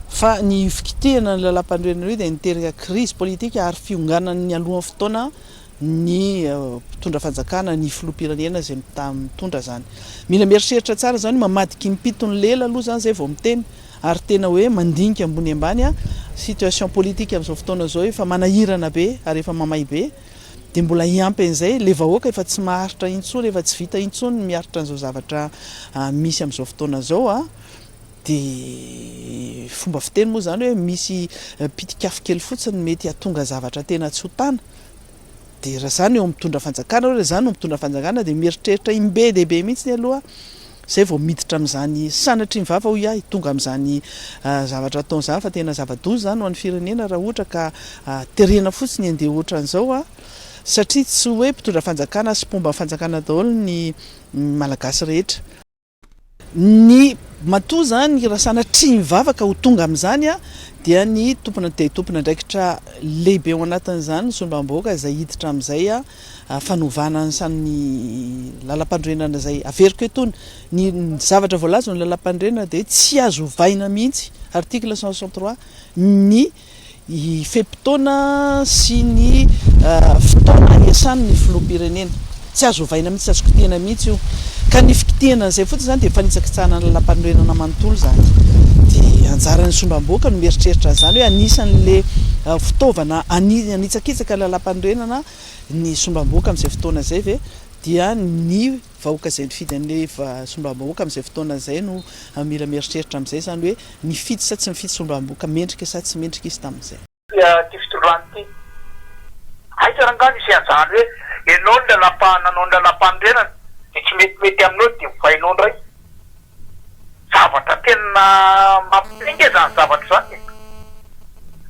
fa ny fikitihana ny lalampanorenana io dia niteraka krizy politika ary fionganany nialohan'ny fotoana ny mpitondra fanjakana, ny filoham-pirenena izay mitondra izany. Mila mieritreritra tsara izany, mamadika impiton'ny lela aloha izany izay vao miteny ary tena hoe mandinika ambony ambany a situation politique amin'izao fotoana izao efa manahirana be ary efa mamay be dia mbola hiampy an'izay le vahoaka efa tsy maharitra intsony, efa tsy vita intsony ny miaritra an'izao zavatra misy amin'izao fotoana izao a. Dia fomba fiteny moa izany hoe misy pitik'afo kely fotsiny mety hatonga zavatra tena tsy ho tana. Dia raha izany eo amin'ny mpitondra fanjakana hoe raha izany no mitondra fanjakana dia mieritreritra im-be dia be mihitsy aloha izay vao miditra amin'izany sanatry ny vava hoy ahy tonga amin'izany zavatra ataony izany fa tena zava-doza izany ho an'ny firenena raha ohatra ka terena fotsiny handeha ohatran'izao satria tsy hoe mpitondra fanjakana sy mpomba fanjakana daholo ny Malagasy rehetra. Ny matoa izany raha sanatria mivavaka ho tonga amin'izany dia ny tompona dia tompon'andraikitra lehibe ao anatin'izany ny solombavambahoaka izay hiditra amin'izay fanovana ny lalampanorenana izay averiko eto ny ny zavatra voalaza eo amin'ny lalampanorenana dia tsy azo ovaina mihitsy article cent soixante trois ny y fe-potoana sy ny fotoana iasany ny filoham-pirenena. Tsy azo ovaina mihitsy, tsy azo kitihana mihitsy io. Ka ny fikitihana an'izay fotsiny izany dia fanitsakitsahana ny lalàmpanorenana manontolo izany. Dia anjaran'ny sombam-bohoka ny mieritreritra an'izany hoe anisan'ilay fitaovana hanitsakitsaka ny lalàmpanorenana ny sombam-bohoka amin'izay fotoana izay ve dia ny vahoaka izay nifidy an'ilay solombavambahoaka amin'izay fotoana izay no mila mieritreritra amin'izay izany hoe nifidy sa tsy nifidy solombavambahoaka, mendrika sa tsy mendrika izy tamin'izay. Ity fitondrana ity. Aiza ary angaha misy an'izany hoe ianao no lalam-panorenana dia tsy metimety aminao dia ovainao indray. Zavatra tena mampitenga izany zavatra izany e!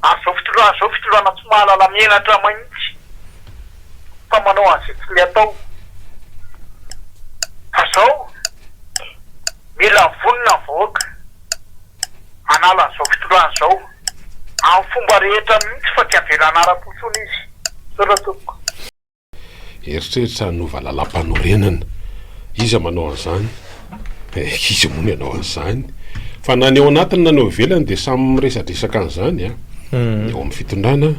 Ary izao fitondrana izao fitondrana tsy mahalala menatra mahitsy fa manao an'izay tsy mety atao. Fa izao mila vonona ny vahoaka hanala an'izao fitondrana izao amin'ny fomba rehetra mihitsy fa tsy havelana ara-po intsony izy. Misaotra tompoko. Eritreritra hanova lalam-panorenana. Iza manao an'izany? Eh, iza moa no hanao an'izany? Fa na ny ao anatiny na ny ao ivelany dia samy miresadresaka an'izany, an! Ny ao amin'ny fitondrana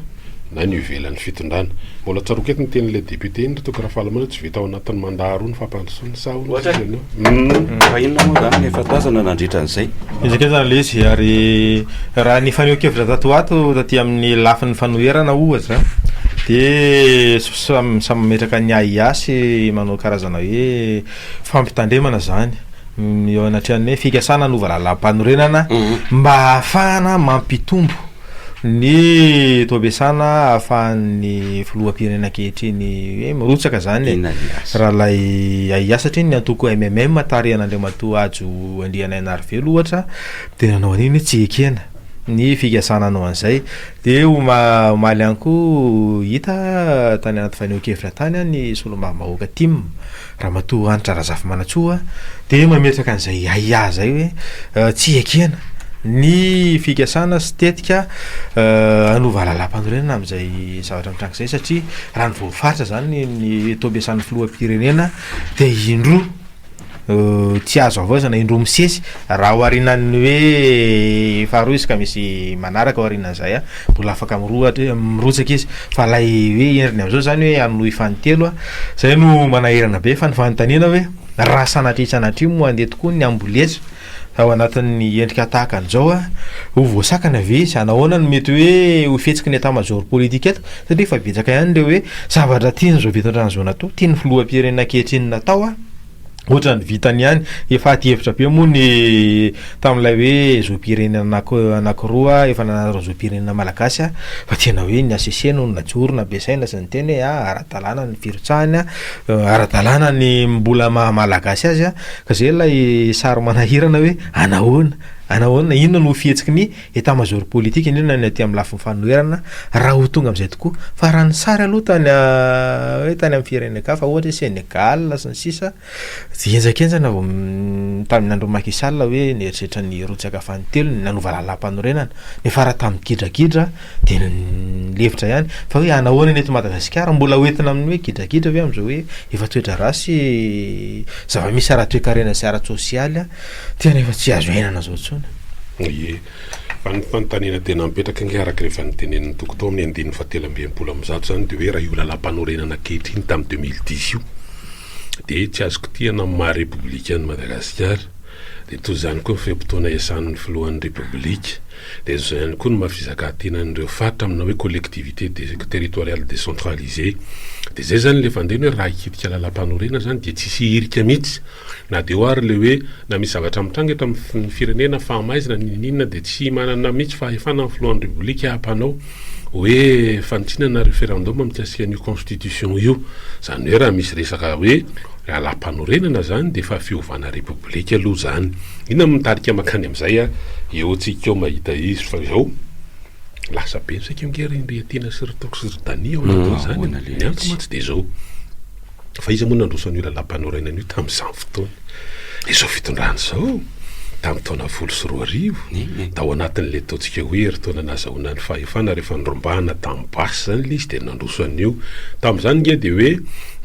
na ny eo ivelan'ny fitondrana. Mbola tsaroako eto ny tenin'ilay député iny, ry Toky Rafalimanana, tsy vita ao anatin'ny mandat roa ny fampandrosoana. Fa inona moa izany no efa tazana nandritra an'izay? Ezaka izy aloha ilay izy ary raha ny fanehoan-kevitra tato ho ato taty amin'ny lafiny fanoherana ohatra dia samy samy mametraka ny ahiahy manao karazana hoe fampitandremana izany eo anatrehan'ny hoe fikasana hanova lalàm-panorenana mba hahafahana mampitombo Ny toabesana ahafahan'ny filoham-pirenena ankehitriny hoe mirotsaka izany e, Ralay Ahiahy, satria ny antoko MMM tarihan'Andriamatoa Hajo Andrianainarivelo ohatra dia nanao an'iny hoe tsy ekena ny fikasana hanao an'izay. Dia oma- omaly ihany koa hita tany anaty fanehoan-kevitra tany ny solombavambahoaka Tim. Ramatoa Hanitra Razafimanantsoa dia mametraka an'izay ahiahy izay hoe tsy ekena ny fikasana sy tetika hanova lalampanorenana amin'izay zavatra mitranga izay satria raha ny voafaritra izany ny taom-piasan'ny filoham-pirenena dia indroa tsy azo havaozana, indroa misesy raha oharinan'ny hoe faharoa izy ka misy manaraka aorianan'izay. Mbola afaka mirohatra mirotsaka izy fa lay hoe heriny amzao zany hoe hanohy fanintello a zay no manahirana be fa ny fanontaniana hoe raha sanatria tsy sanatria moa andeha tokoa ny amboletra ao anatin'ny endrika tahaka anzao a ho voasakana ve izy hanao ahoana no mety hoe ho fihetsiky ny état major politique eto satria efa betsaka ihany le hoe zavatra tian'zao be tondrana zao natao tian'ny filoham-pirenena ankehitriny natao a. Ohatran'ny vitany ihany. Efa adihevitra be moa ny tamin'ilay hoe zom-pirenena anankiroa efa nanana ny zom-pirenena malagasy fa tena hoe ny HCC no najoro nampiasaina sy niteny hoe ara-dalàna ny firotsahany, ara-dalàna ny mbola maha malagasy azy ka izay ilay sary manahirana hoe anahoana, anahoana, inona no fihetsiky ny Etat-major politique indrindra ny aty amin'ny lafiny fanoherana raha ho tonga amin'izay tokoa fa raha ny sary aloha tany hoe tany amin'ny firenen-kafa ohatra hoe Sénégal sy ny sisa dia henjakenjana vao tamin'ny andron'i Macky Sall hoe nieritreritra ny hirotsaka fanintelony nanova lalàmpanorenana nefa raha tamin'ny gidragidra dia nilefitra ihany fa hoe hanahoana ny eto Madagasikara mbola ho entina amin'ny hoe gidragidra ve amin'izao hoe efa toedraharaha sy zava-misy ara-toekarena sy ara-tsosialy dia tena efa tsy azo iainana izao intsony. Ie. Fa ny fanontaniana tena mipetraka ange araka ireo efa notenenin'i Toky tao amin'ny andininy fahatelo amby enimpolo amby zato izany dia hoe raha io lalàmpanorenana ankehitriny tamin'ny deux mille dix io dia tsy azo kitihana amin'ny maha Repoblika an'i Madagasikara dia toy izany koa ny fe-potoana iasan'ny Filohan'ny Repoblika dia izao ihany koa ny maha fizakan-tenan'ireo faritra amina hoe collectivité territoriale décentralisée dia izay izany ilay fandehany hoe raha hikitika lalàmpanorenana izany dia tsy hisy hirika mihitsy Na dia eo ary ilay hoe na misy zavatra mitranga eto amin'ny firenena fa maizina n'inon'inona dia tsy manana mihitsy fahefana ny filohan'ny Rebolika hampanao hoe fanintsiana na referendum mikasika an'io constitution io. Izany hoe raha misy resaka hoe lalàmpanorenana izany dia efa fiovana Repoblika aloha izany. Inona no mitarika mankany amin'izay an? Eo antsika eo mahita izy fa izao lasa be ny saika ange ry Andriatiana sy ry Toky sy ry Dania ao anatin'izany an! Ny antony mantsy dia izao. Fa iza moa nandroso an'io lalampanorenana io tamin'izany fotoana? Ilay izao fitondrana izao, tamin'ny taona folo sy roa arivo, tao anatin'ilay ataontsika hoe herintaona nahazahoana ny fahefana, rehefa nirobahana tamin'ny basy izany ilay izy dia nandroso an'io. Tamin'izany ange dia hoe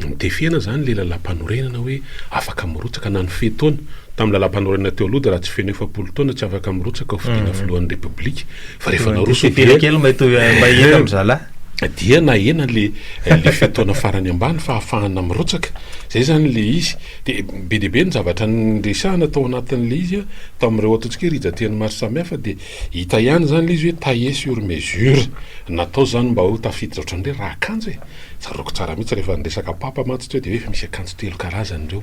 notefena izany ilay lalampanorenana hoe afaka mirotsaka na ny fe-taona. Tamin'ny lalampanorenana teo aloha dia raha tsy feno efapolo taona tsy afaka mirotsaka ho fidiana filohan'ny Repoblika. fa rehefa naroso dia kely mba hitovy mba hihena amin'ny zalahy dia nahena le eh, le fetona farany ambany fa hafahana mirotsaka zay zany le izy dia be dia be ny zavatra nyresahana tao anatin'le izy a tamin'ireo ataontsika rijateny maro samihafa dia hita ihany zany le izy hoe taillé sur mesure natao zany mba ho tafiditra ohatran'ny hoe raha kanjo e tsaroako tsara mihitsy rehefa niresaka papa mantsy teo dia hoe efa misy akanjo telo karazany ireo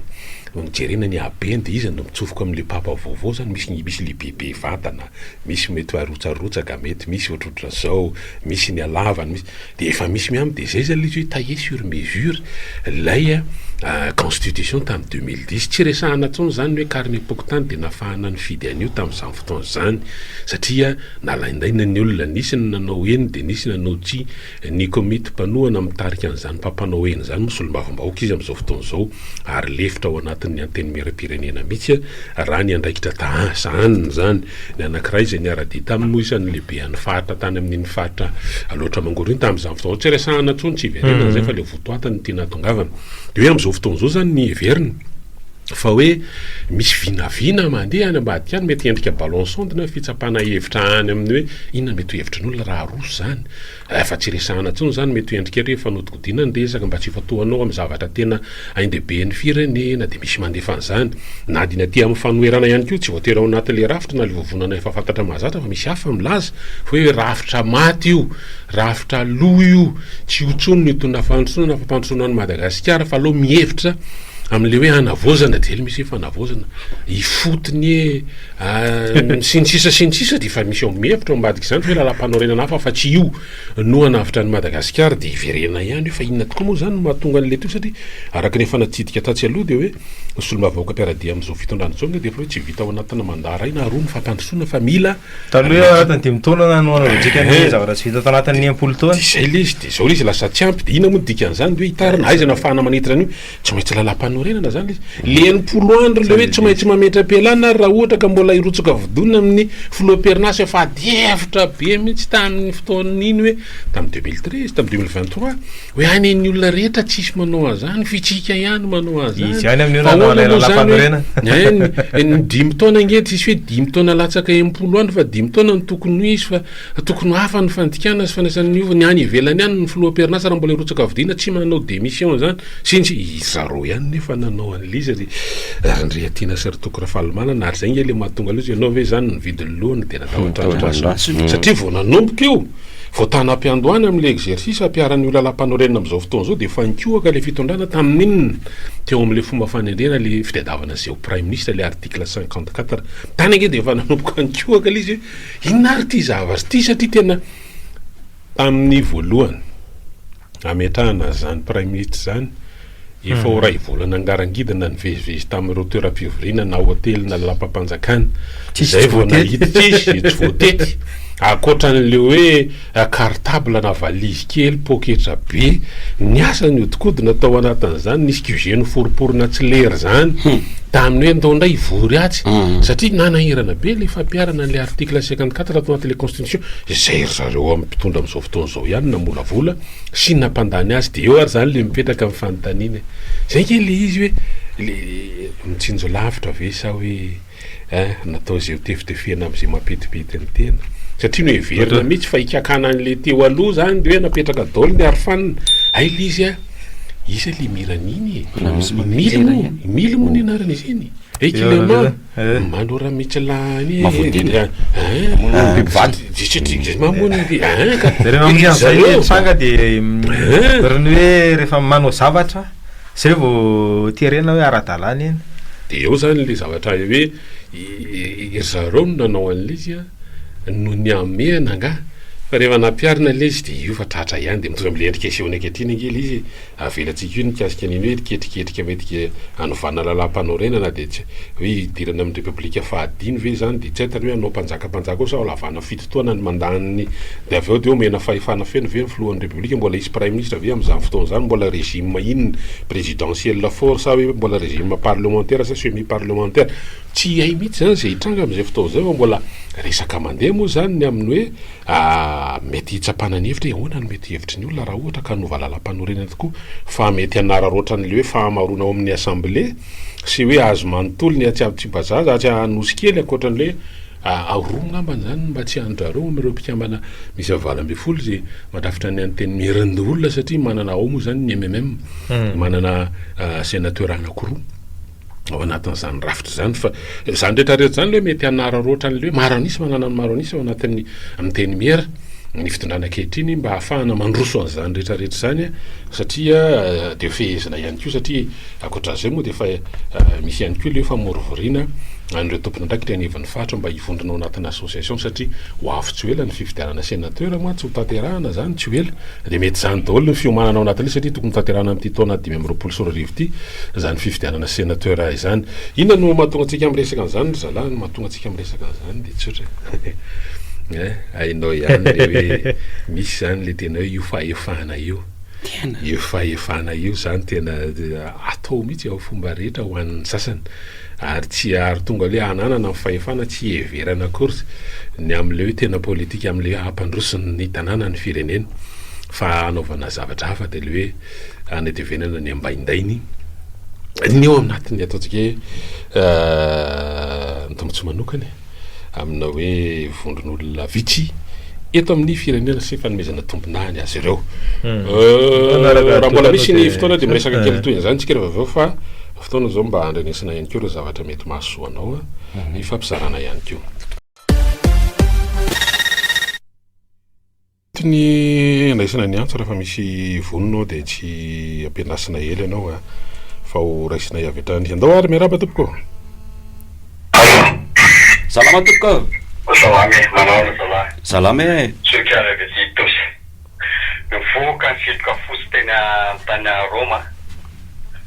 no nijerena ny habeny dia izy no mitsofoka amin'le papa vaovao zany misy ny misy le bebe vantana misy mety arotsarotsaka mety misy ohatrohatra zao misy ny alavany misy de efa misy miam de zay zany le izy hoe taille sur mesure lay constitution tam deux mille dix tsy resahana tsony zany hoe carnet pokontany de nafahana nifidy an'io tam'zany fotoana zany satria nalaindaina ny olona nisy ny nanao eny de nisy nanao tsia Ny komity mpanohana mitarika an'izany mpampanao aina izany moa solombavambahoaka izy amin'izao fotoana izao ary lefitra ao anatin'ny Antenimierampirenena mihitsy raha ny andraikitra taha sahaniny izany. Ny anankiray izay niara-dia taminy moa isan'ny lehibean'ny faritra tany amin'iny faritra Alaotra Mangoro iny tamin'izany fotoana izany. Tsy resahana intsony, tsy hiverenana izay fa ilay votoatiny ity nahatongavana. Dia hoe amin'izao fotoana izao izany ny heveriny fa hoe misy vinavina mandeha any ambadika any, mety endrika ballon sonde na fitsapana hevitra any amin'ny hoe inona mety ho hevitry ny olona raha aroso izany. Rehefa tsy resahana intsony izany, mety ho endrika ery efa nodikodina ny resaka mba tsy hifantohanao amin'ny zavatra tena hain-dehibe ny firenena, dia misy mandefa an'izany. Na dia ny aty amin'ny fanoherana ihany koa, tsy voatery ao anatin'ilay rafitra na ilay vovonana efa fantatra mahazatra fa misy hafa milaza fa hoe rafitra maty io, rafitra lo io, tsy io intsony no itonà fandrosoana na fampandrosoana an'i Madagasikara fa aleo mihevitra amin'ilay hoe hanavaozana dia le misy hoe fanavaozana, ifotony e! Sy ny sisa sy ny sisa dia efa misy ao mihevitra ao ambadika izany hoe lalam-panorenana hafa fa tsy io no hanavotra an'i Madagasikara dia hiverena ihany hoe fa inona tokoa moa izany no mahatonga an'ilay toy satria araka ny efa natsidika tatsy aloha dia hoe ny solombavambahoaka mpiara-dia amin'izao fitondrana izao angah dia efa hoe tsy vita ao anatina mandat iray na roa ny fampandrosoana fa mila Taloha hoe ao anatin'ny dimy taona na hanohanana dikany ny eh. zavatra tsy vita tao anatin'ny impolo taona. Dia izay ilay izy, dia izao ilay izy lasa tsy ampy, dia inona moa ny dikan'izany dia hoe hitarina, aiza no ahafahana manetry an'io? Tsy maintsy lalam-panorenana izany izy. Le enimpolo andro le hoe tsy maintsy mametra-pialana ary raha ohatra ka mbola hirotsoka vodoina amin'ny filoham-perinasa efa adihevitra be mihitsy tamin'ny fotoan'iny hoe tamin'ny deux mille treize, tamin'ny deux mille vingt trois, hoe any ny olona rehetra tsisy manao an'izany, fitsika ihany manao an'izany. Izy ihany amin'io raha nanao ilay lalam-panorenana. Ny dimy taona ange tsisy hoe dimy taona latsaka enimpolo andro fa dimy taona no tokony ho izy fa. Tokony ho hafa ny fandikana sy fandraisana ny hova, ny any ivelany any ny filoha amperinasa raha mbola hirotsaka fidina tsy manao démission zany since izareo ihany nefa nanao an'il'izy ry Randriatiana sy ry Toky Rafalimanana ary zay nge le mahatonga loza ianao ve zany ny vidin'ny loha no tena tahotr'Andrasy satria vao nanomboka io vao tana am-piandohana amin'ilay exercice ampiharana io lalam-panorenana amin'izao fotoana izao dia efa nikohaka ilay fitondrana tamin'inona teo amin'ilay fomba fanendrena ilay fitadiavana zeo praiminisitra ilay article cinquante quatre tany ange dia efa nanomboka nikohaka ilay izy hoe Inona ary ity zavatra ity satria tena tamin'ny voalohany hametrahana an'izany Praiminisitra izany, efa ho iray volana angarangidina nivezivezy tamin'ireo toeram-pivoriana na hotely na lalampam-panjakana izay vao nahita, tsisy tsy voatety, ankoatra an'ilay hoe. cartable na valise kely poketra be ny asa niodikodina tao anatin'izany nisy QG noforiporina tsy lery zany tamin'ny hoe ndao ndray hivory atsy satria nanahirana be le fampiharana an'le article cinquante quatre ato anatin'le constitution zay ry zareo amin'ny mpitondra amzao fotoana zao ihany namolavola sy nampandany azy de eo ary zany le mipetraka ny fanontaniana e zay nge le izy hoe le mitsinjo lavitra ve sa hoe Eh, natao izay ho tefitefena amin'izay mampetipety ny tena. Satria noheverina mihitsy fa hikakana an'ilay teo aloha zany dia hoe napetraka daholo ny arofanina. Hay ilay izy a, iza ilay Miran iny e? Mily moa, Mily moa ny anarana izy iny. Hey Kilema, manora mitsilany e. Mavodina. Mamono biby vato. Zay mamono ny biby. Zareo amin'izay hoe tsanga dia ohatran'ny hoe rehefa manao zavatra. Zay vao terena hoe ara-dalàna iny. Dia ao izany ilay zavatra hay hoe ry zareo no nanao an'ilay izy an, no nihamehana angaha? Fa rehefa nampiharina ilay izy dia io fa tratra ihany dia mitovy amin'ilay endrika asehony ankehitriny ange ilay izy e! Avelantsika io ny mikasika an'iny hoe ketriketrika mety hanovana lalàmpanorenana dia hoe hidirana amin'ny repoblika fahadimy ve izany dia tsy haitany hoe hanao mpanjaka mpanjaka ao sa ho lavana Fito taona ny mandat-ny. Dia avy eo dia omena fahefana feno ve ny filohan'ny Repoblika? Mbola hisy praiminisitra ve amin'izany fotoana izany? Mbola régime inona? Présidentiel fort sa hoe mbola régime parlementaire sa semi parlementaire? Tsy hay mihitsy izany izay hitranga amin'izay fotoana izay fa mbola resaka mandeha moa izany ny amin'ny hoe mety hitsapana ny hevitra hoe ahoana no mety hevitry ny olona raha ohatra ka hanova lalàmpanorenana tokoa fa mety hanararaotra an'ilay hoe fahamaroana ao amin'ny Assemblée sy hoe azy manontolo ny atsy Amtsibazaza, atsy Anosikely ankoatran'ilay Aharoa ngambany izany ny mba tsy handrareo amin'ireo mpikambana miisa valo ambin'ny folo izay mandrafitra ny Antenimieran'ny olona satria manana ao moa izany ny MMM, manana Sénateur anankiroa ao anatin'izany rafitra izany fa izany rehetra rehetra izany aloha mety hanararaotra an'ilay hoe maro an'isa manana ny maro an'isa ao anatin'ny Antenimiera ny fitondrana ankehitriny mba hahafahana mandroso an'izany rehetra rehetra izany satria dia fehezina ihany koa satria Ankoatran'izay moa dia efa misy ihany koa ilay hoe famorovoriana an'ireo tompon'andraikitra eny anivon'ny faritra mba hivondrona ao anatin'ny association satria ho avy tsy ho ela ny fifidianana sénateur mantsy ho tanterahana izany tsy ho ela dia mety izany daholo ny fiomanana ao anatin'io satria tokony hotanterahana amin'ity taona dimy amby roapolo sy roa arivo ity izany fifidianana sénateur izany. Inona no mahatonga antsika miresaka an'izany ry zalahy? Ny mahatonga antsika miresaka an'izany dia tsotra eh, hainao ihany ilay hoe misy izany ilay tena hoe io fahefana io. Io fahefana io zany tena atao mihitsy amin'ny fomba rehetra ho an'ny sasany ary tsy ary tonga hoe hananana ny fahefana tsy hiheverana akory ny amin'ilay hoe tena politika amin'ilay hoe hampandroso ny tanàna ny firenena fa hanaovana zavatra hafa dia ilay hoe hanetevenana ny ambaindainy ny eo anatin'ny ataontsika hoe ny tombontsoa manokana e. amina hoe vondron'olona vitsy eto amin'ny firenena sy fanomezana tombonany azy ireo hmm. euh, raha mbola misy ny fotoana dia miresaka kely toy izany tsika rehefa avy eo fa fotoana izao mba andrenesana ihany koa ireo zavatra mety mahasoa anao a hmm. ny fampizarana ihany koa Tsy ny handraisana ny antso rehefa misy vonona ao dia tsy ampiandrasina ela ianao a! fa ho raisina avy hatrany. Andao ary, miarahaba tompoko ô! Allô. Salama tompoko ô! Salama e! Manaona zalahy? Salama e! Zoky ary avy aty Itosy. Nivoaka nivimbika fotsy teny an-tany Roma aho.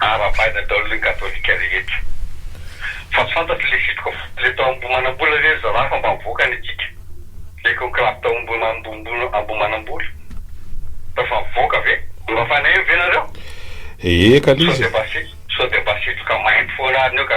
Aravaina daholo ny katolika rehetra. Fa tsy fantatro le sitriko fo. Le tao Ambohimanambola ve ry zalahy fa mba mivoaka ny antsika? Le conclave tao Ambohimanambola tao fa mivoaka ve? Mba fanahiny ve nareo? Ee ka l'izy e! Sao dia mba sitroka mainty foana ary ny eo ka.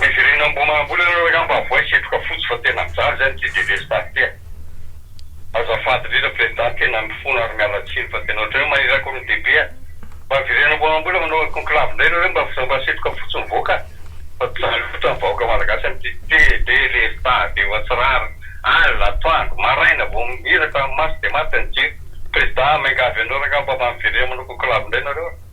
Heverina Ambohimanambola nareo angamba avoay setroka fotsy fa tena mijaly izay ny GDV sy Tafika. Azafady indrindra Président tena mifona ary miala tsiny fa tena ohatrany hoe maniraka olona dia be a! Mba avereno Ambohimanambola manao conclave indray nareo mba mba setroka fotsy mivoaka fa jaly loatra ny vahoaka Malagasy amin'ity TD lesda dia ohatsirary alina atoandro maraina vao miraka maso dia maty ny jiro Président miangavy anao rangah mba miverena manao conclave indray nareo a!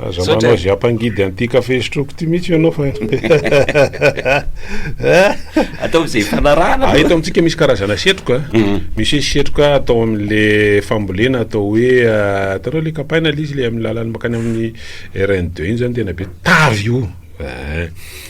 Aza manao izay hampangidy an'ity kafe sotroiko ity mihitsy ianao fa Ataovy izay hifanarahana aloha. Eto amintsika misy karazana setroka, mm. misy setroka atao amin'le fambolena atao hoe ah, hitanao le kapaina le izy le amin'ny lalan'ny makany amin'ny RN2 iny zany tena be tavy io. Aa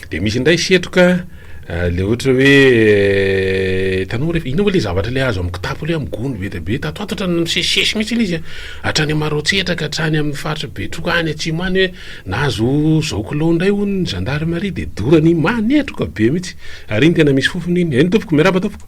de misy indray setroka le ohatra hoe hitanao rehefa inona moa le zavatra le azo amin'ny kitapo le amin'ny gony be dia be tatoatatra no misesisesy mihitsy ilay izy a hatrany Maroantsetra ka hatrany amin'ny faritra Betroka any atsimo any hoe nahazo zao kilao indray hono ny zandarimaria dia dorany manetroka be mihitsy ary iny tena misy fofona iny, eny tompoko miarahaba tompoko.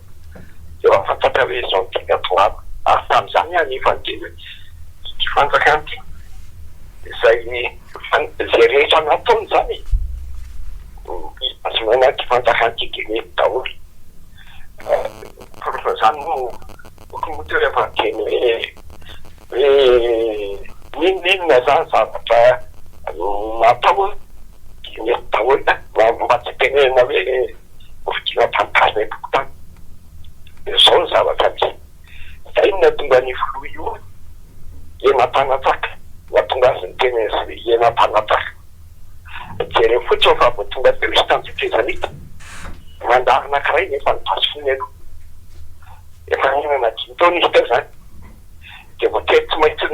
Eo amin'ny fantatra hoe izao ny teny Atoato ary tamin'izany anefa ny teny Ity fanjakana ity izay izay rehetra nataony izany e! ny fahazonana ity fanjakana ity dia nety daholo. Ny porofon'izany moa no boky moa teo rehefa niteny hoe hoe n'inon'inona izany zavatra natao dia nety daholo. Mba tsy itenenana hoe. Hovidina tantara ny fokontany. Dia izao ny zavatra misy. Izay no nahatonga an'io filoha io hoe hena mpanatsaka. Nahatonga azy niteny an'izay hena mpanatsaka. Jereo fotsiny fa vao tonga teo izy tamin'izay fehezana io dia nandalo anankiray nefa ny basy fony aloha. Efa nihinana dimy taona izy teo izany. dia voatery tsy maintsy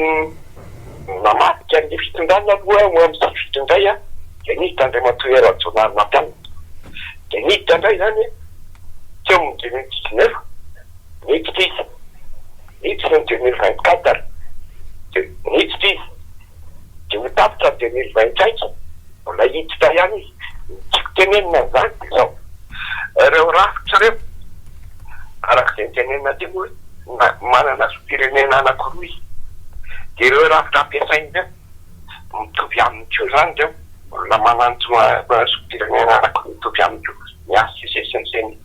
namadika ny fitondrana aloha ho amin'ny sivily indray an! dia niditra Andriamatoa Hery Rajaonary nampianatra dia niditra indray izany an! teo amin'ny deux mille dix neuf niditra izy, niditra ny deux mille vingt quatre dia niditra izy. dia ho tapitra ny tenely vainkaika, mbola hiditra ihany izy, ny tiako tenenina amin'izany dia izao, ireo rafitra ireo, araka izay notenenina teo hoe na manana zom-pirenena anankiroa izy, dia ireo rafitra ampiasainy ireo, mitovy aminy koa izany ireo, olona manana zom-pirenena anankiroa mitovy aminy koa ny HCC sy ny ceni,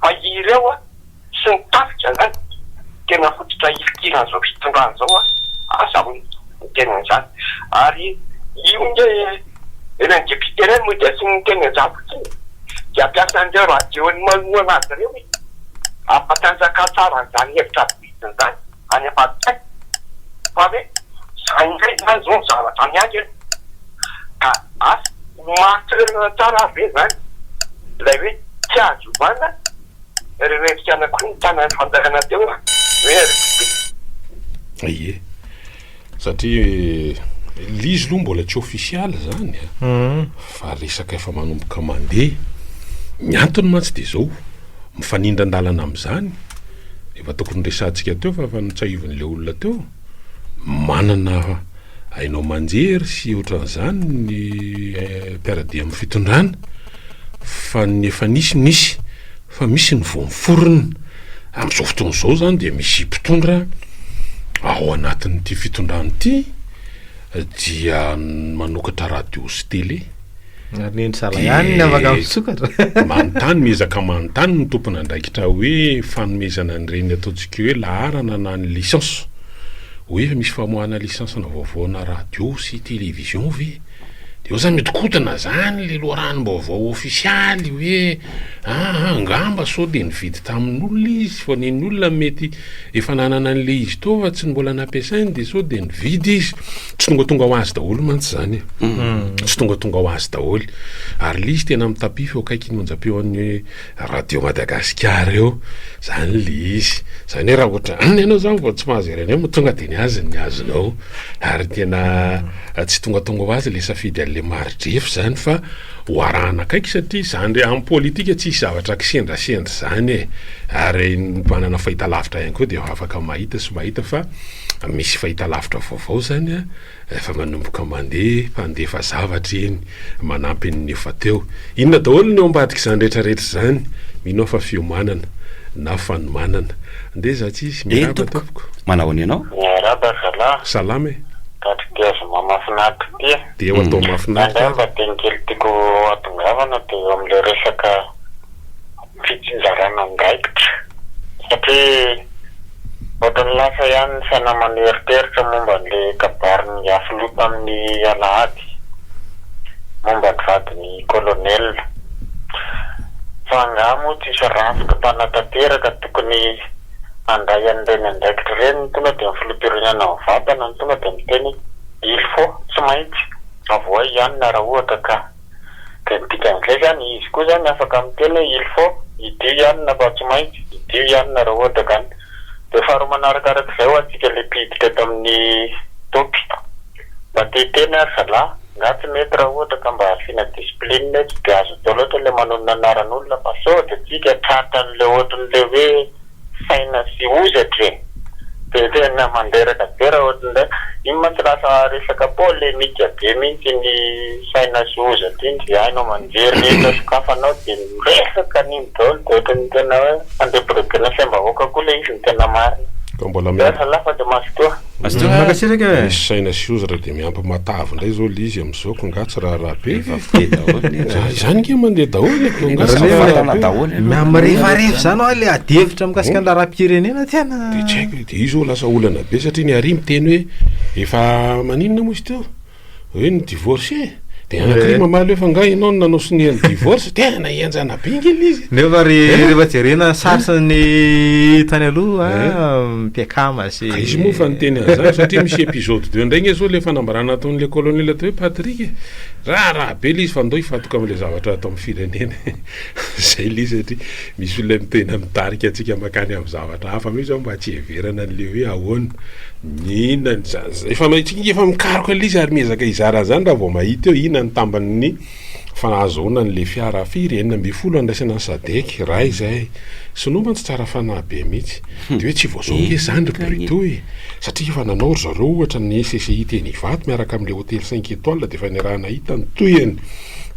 fa ireo an! sy ny tafika zany tena fototra hifikirana zao fitondrana zao an! Asa hono ny tenany zany ary io nge ilay député reny moa dia tsy miteny anzany fotsiny dia hampiasa an'ireo radio ny manohana azy ireo izy hampatanjaka tsara an'izany hevitra vitsiny zany any ambadikany fa ve zany indray zany zao ny zavatra miandry an! Ka asa ho marin-toerana tsara ary ve zany ilay hoe tsy azo ovana Ry revika anakiroa mitana ny fanjakana teo hoe Aribobe. Ie. Satria l'izy aloha mbola tsy ofisialy zany fa resaka efa manomboka mandeha. Ny antony mantsy dia zao, mifanindran-dalana amizany, efa tokony resahantsika teo fa efa notsahivin' ilay olona teo. Manana haino aman-jery sy ohatran'izany ny mpiara-dia amin'ny fitondrana fa ny efa nisy nisy fa misy ny vao miforona. Amin'izao fotoana izao izany dia misy mpitondra ao anatin'ity fitondrana ity dia manokatra radio sy tele. Ary ny endry zala ihany ny afaka misokatra. Manontany, miezaka manontany ny tompon'andraikitra hoe fanomezana an'ireny ataontsika hoe laharana na ny licence. Hoe misy famoahana licence-na vaovaona radio sy télévision ve? Dia eo izany mihodinkodina izany ilay loharanom-baovao ofisialy hoe, aa, angamba sao dia nividy tamin'olona izy fa nen'ny olona mety Efa nanana an'le izy teo fa tsy ny mbola nampiasainy de sao de nividy izy. Tsy tongatonga ho azy daholo mantsy zany e. Tsy tongatonga ho azy daholo. Ary le izy tena mitapify eo akaikin'ny onjam-peon'ny radio Madagasikara eo. Zany le izy. Zany hoe raha ohatra an ianao zany vao tsy mahazo ery anay moa tonga de ny azy ny azonao. Ary tena tsy tongatonga ho azy le safidy an'le maridrefy zany fa. ho arahana akaiky satria zany amin'ny politika tsisy zavatra kisendrasendra zany e! ary ny mpanana fahitalavitra ihany koa dia afaka mahita sy mahita fa misy fahitalavitra vaovao zany a! efa manomboka mandeha mpandefa zavatra iny manampy ny efa teo, inona daholo ny ao ambadik'izany rehetra rehetra izany? mino aho fa fiomanana na fanomanana, andeha za tsy hisy, miarahaba tompoko. Manao ahoana ianao? Miarahaba zalahy. Salama e. Tadidiazoma mafinaritra ity e. Dia eo atao mahafinaritra ary. Indraindray mba adino kely tiako hatongavana dia eo amin'ilay resaka fitsinjarana andraikitra satria ohatran'ny lasa ihany ny sainamano hieriteritra momba an'ilay kabarin'ny Afiloha tamin'ny alahady momba ny vadin'i Colonel fa angaha moa tsisy rafitra mpanatanteraka tokony handray an'ireny andraikitra ireny ny tonga dia ny Filoham-pirenena mivantana ny tonga dia miteny Il faut, tsy maintsy, avohay ihany ny ara ohatra ka. Dia ny dikan'izay izany, izy koa izany afaka miteny hoe il faut, hidio ihany na fa tsy maintsy, hidio ihany ny ara ohatra ka. Dia faharoa manaraka araka izay ho antsika ilay mpiditra eto amin'ny topy. Mba te hiteny ary zalahy, nga tsy mety raha ohatra ka mba asiana discipline etsy, dia azo atao loatra ilay manonona anaran'olona fa sao dia antsika tratra an'ilay ohatran'ilay hoe, saina sy hozatra e! de tena mandreraka be raha ohatra ndray, iny mantsy lasa resaka polemika be mihitsy iny saina sy hozatra iny, zay hainao aman-jery rehetra sokafanao de miresaka an'iny daholo de ohatran'ny tena hoe handrebirebena saim-bahoaka koa le izy ny tena marina. Ka mbola miampy. Zalahy fa de mazotoa. Mankasitraka e. Misy saina sy hozatra de miampy matavy ndray zao le izy am. Zao ko nga tsy raharaha be fa fite daholo ny nga. Zany nga mandeha daholo ny ko nga tsy raharaha daholo. Na mirefarefa zany hoa le ady hevitra mikasika ny raharaham-pirenena tena. De tsy haiko de io zao lasa olana be satria ny Ari miteny hoe efa maninona moa izy teo hoe ny divorce e. De any Ari mamaly hoe fa nga enao no nanao sonia ny divorce tena henjana be nge le izy. Nefa rehefa jerena sary sy ny tany aloha mpiakama. Ka izy moa efa niteny an'izany satria misy episode deux indray nge zao le fanambarana nataon'i le colonel atao hoe Patrick e! raharaha be le izy fa ndao hifantoka am'le zavatra ato amin'ny firenena e! zay le izy satria misy olona mitena mitarika antsika makany amin'ny zavatra hafa mihitsy zao mba tsy hiheverana an'le hoe ahoana ny ina ny za-za-, efa mitsika efa mikaroka le izy ary miezaka hizara an'izany raha vao mahita eo ina ny tamban'ny Fa nahazo ahoana ny le fiara firy enina ambin'ny folo andraisana ny sadec raha izay sinoa mantsy tsara fanahy be mitsy de hoe tsy voazao nge zany ry brito e satria efa nanao ry zareo ohatra ny SCCI teny ivato miaraka amle hotely cinq etoile de efa niarahana hita ny tohiny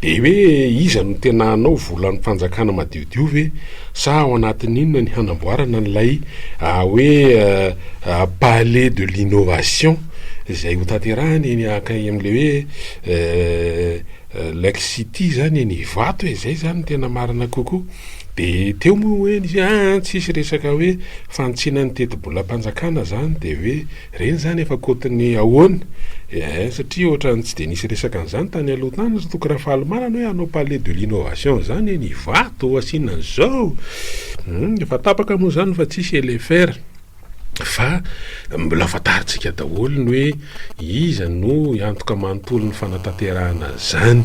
de hoe iza no tena hanao volan'ny fanjakana madiodio ve sa ao anatin'ny inona ny hanamboarana an'ilay hoe palais de l'innovation izay hotanterahana eny akay amle hoe Eh, Lake City zany eny Ivato e, zay zany ny tena marina kokoa. De teo moa hoe nisy hoe aa tsisy resaka hoe fanitsiana ny tetibolam-panjakana zany de hoe reny zany efa côte ny ahoana? eh, satria ohatrany tsy de nisy resaka an'zany tany aloha tany ry Toky Rafalimanana hoe hanao palais de l'innovation zany eny Ivato, asiana an'zao, humm, efa tapaka moa zany fa tsisy elefer. fa mbola fantarintsika daholo ny hoe iza no hiantoka manontolo ny fanatanterahana an'izany,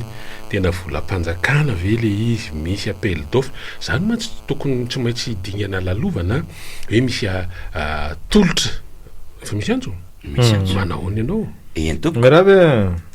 tena volam-panjakana ve ilay izy, misy appel d'offre, izany mantsy tokony tsy maintsy dingana lalovana hoe misy tolotra, efa misy antso? Misy antso. Manao ahoana ianao? Eny tompoko. Mirava e!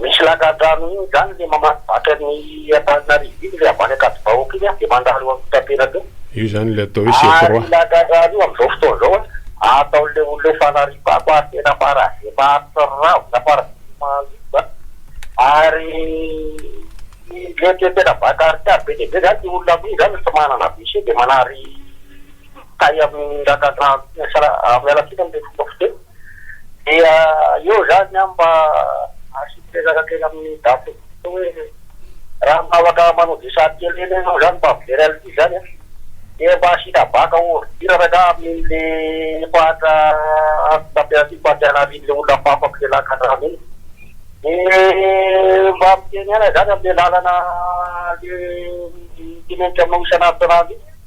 Misy lakandrano iny izany le mamaky vatran'ny Antananarivo iny le avy any Ankadivahoaka iny de mandalo any Ampitampenabe iny. Io zany ilay atao hoe chef roi. Ary io lakandrano io amin'izao fotoana izao an, ataon'ilay olona hoe fanariam-bako ary tena paraje maharitra ravina paraje maharitra an, ary le te tena bankarikaha be dia be zany le olona amin'iny zany tsy manana WC de manary tay amin'ny lakandrano iny, miala tsiny amin'ilay fomba fiteny. Dia eo izany an mba asiako ezaka kely amin'ny daty io hoe raha mba afaka manao dessin kely kely ianao izany mba very an'ilay izy izany an. Dia mba asiana bac en ordure ve angaha amin'ilay efa hatra antso tamperatiko fa tsy hanarian'ilay olona hafahafako ilay lakandrano iny. Dia mba miteny ihany aho izany amin'ilay lalana le mitenenitra aminao isan'andro isan'andro iny.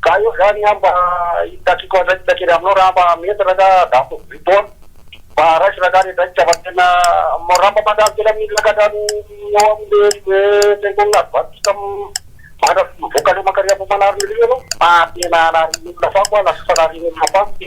Ka eo zany aho mba hitakiako andraikitra kely aminao raha mba mety ra ka za to vy to an! Mba raiso ra ka re draikitra fa tena raha mba mandalo kely amin'ny lakatra ny eo amin'ny le fiangonana advantista mandra sy mivoaka le mankary ambohimanarina ery ianao fa tena hanarian'olona fako an! lasa fanarin'olona fako ty!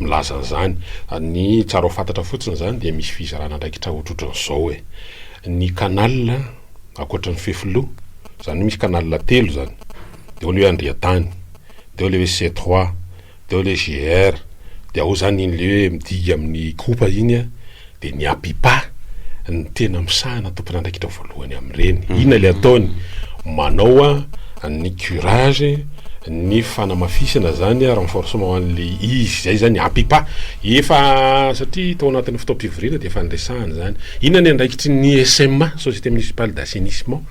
Milaza an'izany. Ny tsara ho fantatra fotsiny izany dia misy fizarana andraikitra ohatrohatran'izao e. Ny canal, ankoatra ny fefiloha, izany hoe misy canal telo izany. Dia ao ilay hoe Andriantany, dia ao ilay hoe C trois, dia ao ilay GR, dia ao izany iny ilay hoe midika amin'ny Ikopa iny a. Dia ny Apipa no tena misahana tompon'andraikitra voalohany amin'ireny. Inona ilay ataony? Manao ny curage, ny fanamafisana izany, renforcement an'ilay izy. Izay izany ny Apipa. Efa, satria tao anatin'ny fotoam-pivoriana dia efa niresahana izany. Inona ny andraikitry ny SMA, Société Municipale d'Assainissement?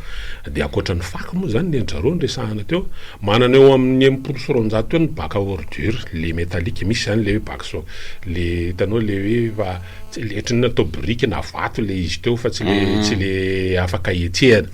Dia ankoatra ny fako moa izany ny an-dry zareo niresahana teo. Manana eo amin'ny enimpolo sy roanjato eo ny bac à ordures, ilay métallique, misy izany ilay hoe bac. So le hitanao le hoe efa le ohatry ny hoe atao biriky na vato le izy teo fa tsy le mm. tsy le afaka hetsehana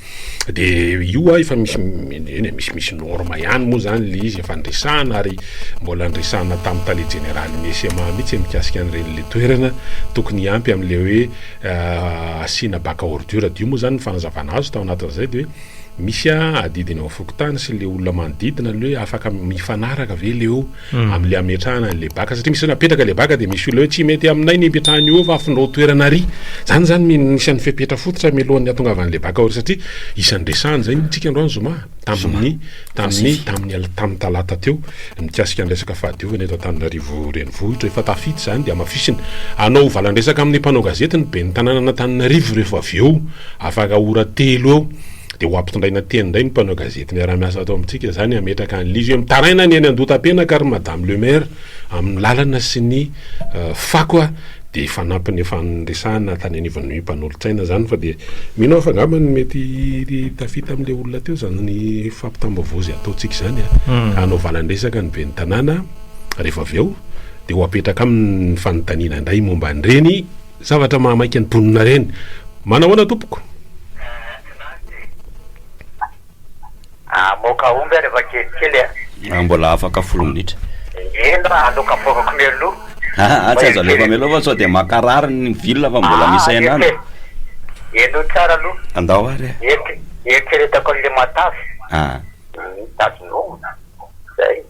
de io a efa misy eny e, misy misy norme ihany moa zany le izy efa andresahana ary mbola andresahana tamin'ny tale jeneralin'ny SMA mihitsy mikasika an'ireny le toerana tokony hiampy amin'le hoe euh, asiana baka ordure de io moa zany ny fanazavana azo tao anatin'izay de hoe misy a adidiny ao fokontany sy le olona manodidina le hoe afaka mifanaraka ve le eo Amle ametrahana anle baka satria misy napetraka le baka de misy olona hoe tsy mety aminay ny ipetrahan'i Ova afindrao toerana ary zany zany min isan'ny fepetra fototra mialohan'ny atongavan'le baka ao satria isan'ny resahana zay mintsy tsika androany zoma tamin'ny tamin'ny tamin'ny al- tamin'ny talata teo mikasika ny resaka fahadiovana eto Antananarivo renivohitra efa tafita zany de amafisina hanao valandresaka amin'ny mpanao gazety ny ben'ny tanànan'Antananarivo rehefa avy eo afaka ora telo eo Dia ho ampitondraina teny indray ny mpanao gazety miara-miasa ato amintsika izany hametraka an'ilay izy hoe mitaraina ny eny Andohatapenaka ry Madame le Maire amin'ny lalana sy ny fako a! Dia hifanampy ny efa niresahana tany anivon'ny mpanolotsaina izany fa dia mino aho fa angamba ny mety tafita amin'ilay olona teo izany fampitam-baovao izay ataontsika izany a! Hanaovana ny resaka ny ben'ny tanàna rehefa avy eo dia ho apetraka aminy ny fanontaniana indray momba an'ireny Zavatra mahamaika ny mponina reny. Manao ahoana tompoko? Amoaka omby ary efa kelikely a! Raha mbola afaka folo minitra. Eny raha aloka afoakako mialoha. Aa tsy azo alefa mialoha fa sao dia mankarary ny villa fa mbola misy hainana. Enoy tsara aloha. Andao ary a! Eritreretako an'ilay matavy. Aa. Mitazona omby. Zay.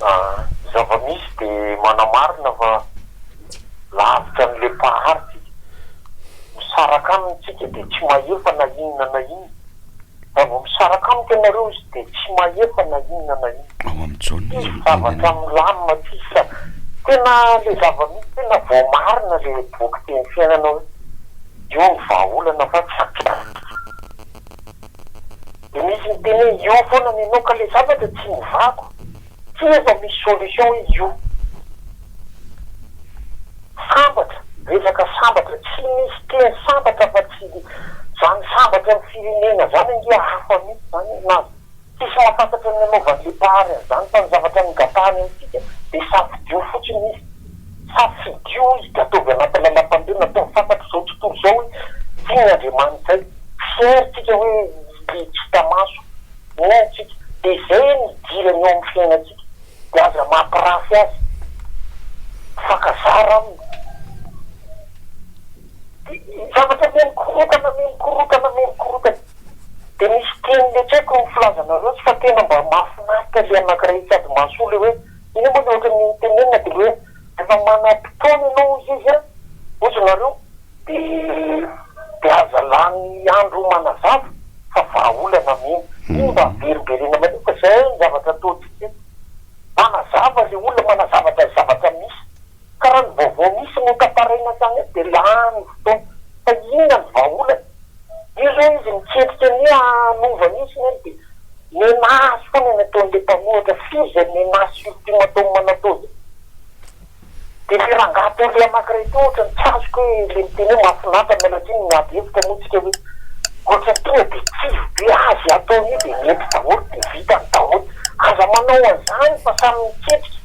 Ny zava-misy dia manamarina fa lavitra ny lempahari-tsika. Misaraka aminy tsika dia tsy mahefa na inona na inona. Raha vao misaraka amiko ianareo izy dia tsy mahefa na inona na inona. Ao amin'ny Jaona izy no teny an'io. Tsy zavatra milamina tsisy sa. Tena ilay zava-misy tena voamarina ilay boky Teny Fiainana hoe io ny vahaolana fa tsy hampihariko. De misy miteny hoe io foana ny anao ka le zavatra tsy hovako, tsy efa misy solution hoe io. Sambatra, resaka sambatra, tsy misy teny sambatra afa tsy zany sambatra am firenena zany ange hafa mitsy zany e, na tsisy mahafantatra ny nanaovan'le mpahary an'zany fa ny zavatra nogatahany amintsika de safidio fotsiny izy. Safidio higadovy anaty lalam-pandriana atao ny fantatr'izao tontolo izao hoe tia ny Andriamanitray. Fier tsika hoe le tsy hita maso no antsika. De izay no idirany eo amin'ny fiainantsika. De aza mampirafy azy. Mifankazara aminy. De ny zavatra miha mikorontana miha mikorontana miha mikorontana. De misy teny le tsy haiko ny filaza anareo tsy fa tena mba mahafinaritra le anakiray sady mahasoa le hoe. Io moa dia ohatran'ny tenenina dia hoe efa manam-potoana ianao hoy izy a, hoy nareo dia aza lany andro manazava fa vahaolana mihitsy. Iny mba averimberiana maloka zay ny zavatra ataontsika eto, manazava le olona, manazava zay zavatra misy. Ka raha ny vaovao misy notantaraina hatrany eto dia lany fotoana. Fa inona ny vahaolana? Io izao izy miketrika ny hoe hanova mihitsy ny ainy dia menace foana ny ataon'ilay mpanohatra. Firy izay menace ultimatum natao izay? Dia ilay rangahy teo leha anankiray teo ohatrany tsy azoko hoe ilay miteny hoe mahafinaritra miala tsiny ny miady hevitra moa tsika hoe ohatrany tonga dia kivy be azy ataon'io dia mety daholo dia vitany daholo. Aza manao an'izany fa samy miketrika.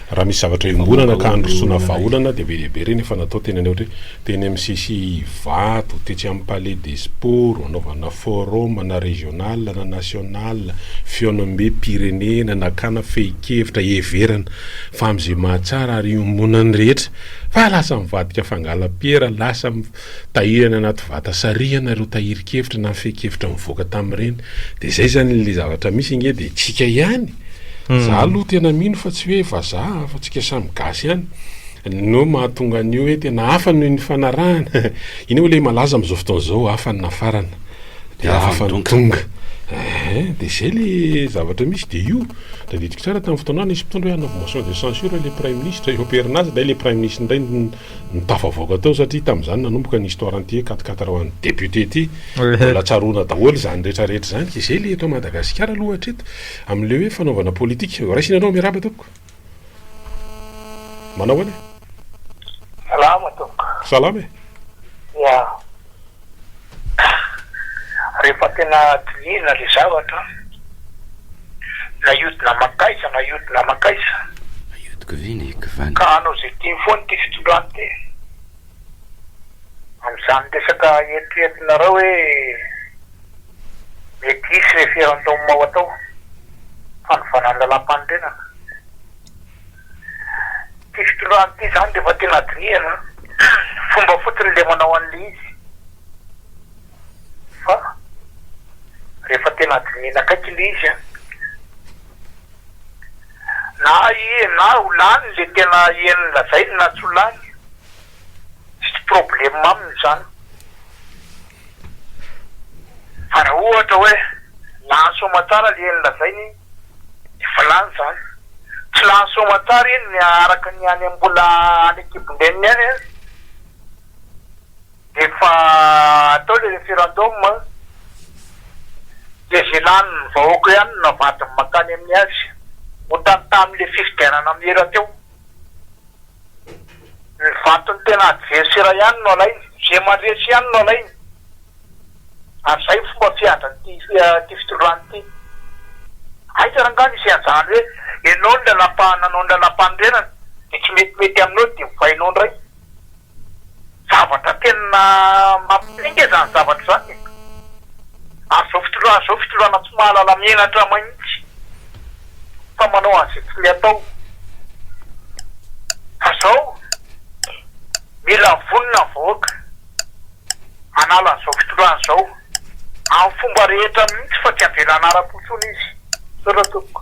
Raha misy zavatra iombonana ka handrosoana vahaolana dia be dia be ireny efa natao teny anay ohatra hoe teny mcc Ivato, tetsy amin'ny palais des sports hanaovana forum na régional na national, fihaonambem-pirenena, nakana fehin-kevitra, heverana fa amin'izay mahatsara ary iombonan'ny rehetra fa lasa mivadika fangalam-piera, lasa Tahirana anaty vata sarihana ireo tahirin-kevitra na fehin-kevitra nivoaka tamin'ireny. Dia izay izany ilay zavatra misy ange dia tsika ihany. Za aloha tena mino fa tsy hoe vazaha fa tsika samy gasy ihany no mahatonga an'io hoe tena hafa no nifanarahana. Iny hoe ilay malaza amin'izao fotoana izao hafa ny nafarana dia hafa ny tonga. Ehe, dia izay ilay zavatra misy dia io. Tadidiko tsara tamin'ny fotoana nisy mpitondra hoe hanaovy motion de censure ilay praiminisitra eo am-perinasa dia hay ilay praiminisitra indray no. no tafavoaka tao satria tamin'izany nanomboka ny histoire an'ity hoe quat-quatre ho an'ny député ity. Mbola tsaroana daholo izany rehetra rehetra izany ka izay le eto Madagasikara aloha hatreto amin'ilay hoe fanaovana politika. Raisina anao Miarahaba tompoko. Manao ahoana e? Salama tompoko. Salama e. Ya. Rehefa tena dinihina ilay zavatra, na hiodina mankaiza na hiodina mankaiza, ka hanao izay tiany foana ity fitondrana ity, amin'izany resaka eritreretinareo hoe mety hisy referendum ho atao, fanovana ny lalàmpanorenana, Ity fitondrana ity izany dia efa tena dinihana an! Fomba fotsiny ilay manao an'ilay izy fa rehefa tena dinihina akaiky ilay izy an! Na hihena na ho lany ilay tena heno lazainy na tsy ho lany, tsisy problème aminy izany. Fa raha ohatra hoe lany soamantsara le eny lazainy iny de efa lany zany, tsy lany soamantsara iny ny araka ny any mbola any an-kibon-dreniny any an, de efa atao le referendum an, de ze lanin'ny vahoaka ihany no navadiny mankany amin'ny azy, otany tamin'le fifidianana am ela teo. Ny vaton'ny tena adversera ihany no alainy, ze mandresy ihany no alainy, ary zay no fomba fiadran'ity ity fitondrana ity, aiza ary nga misy anzany hoe enao ny lalam-pa-nanao ny lalam-panorenana de tsy metimety aminao de ovainao ndray. Zavatra tena mampitainga izany zavatra izany e! Ary izao fitondrana izao fitondrana tsy mahalala menatra mahitsy fa manao an'izay tiany atao. Fa izao mila vonona ny vahoaka hanala an'izao fitondrana izao amin'ny fomba rehetra mihitsy fa tsy havela hanara-po intsony izy. Misaotra tompoko.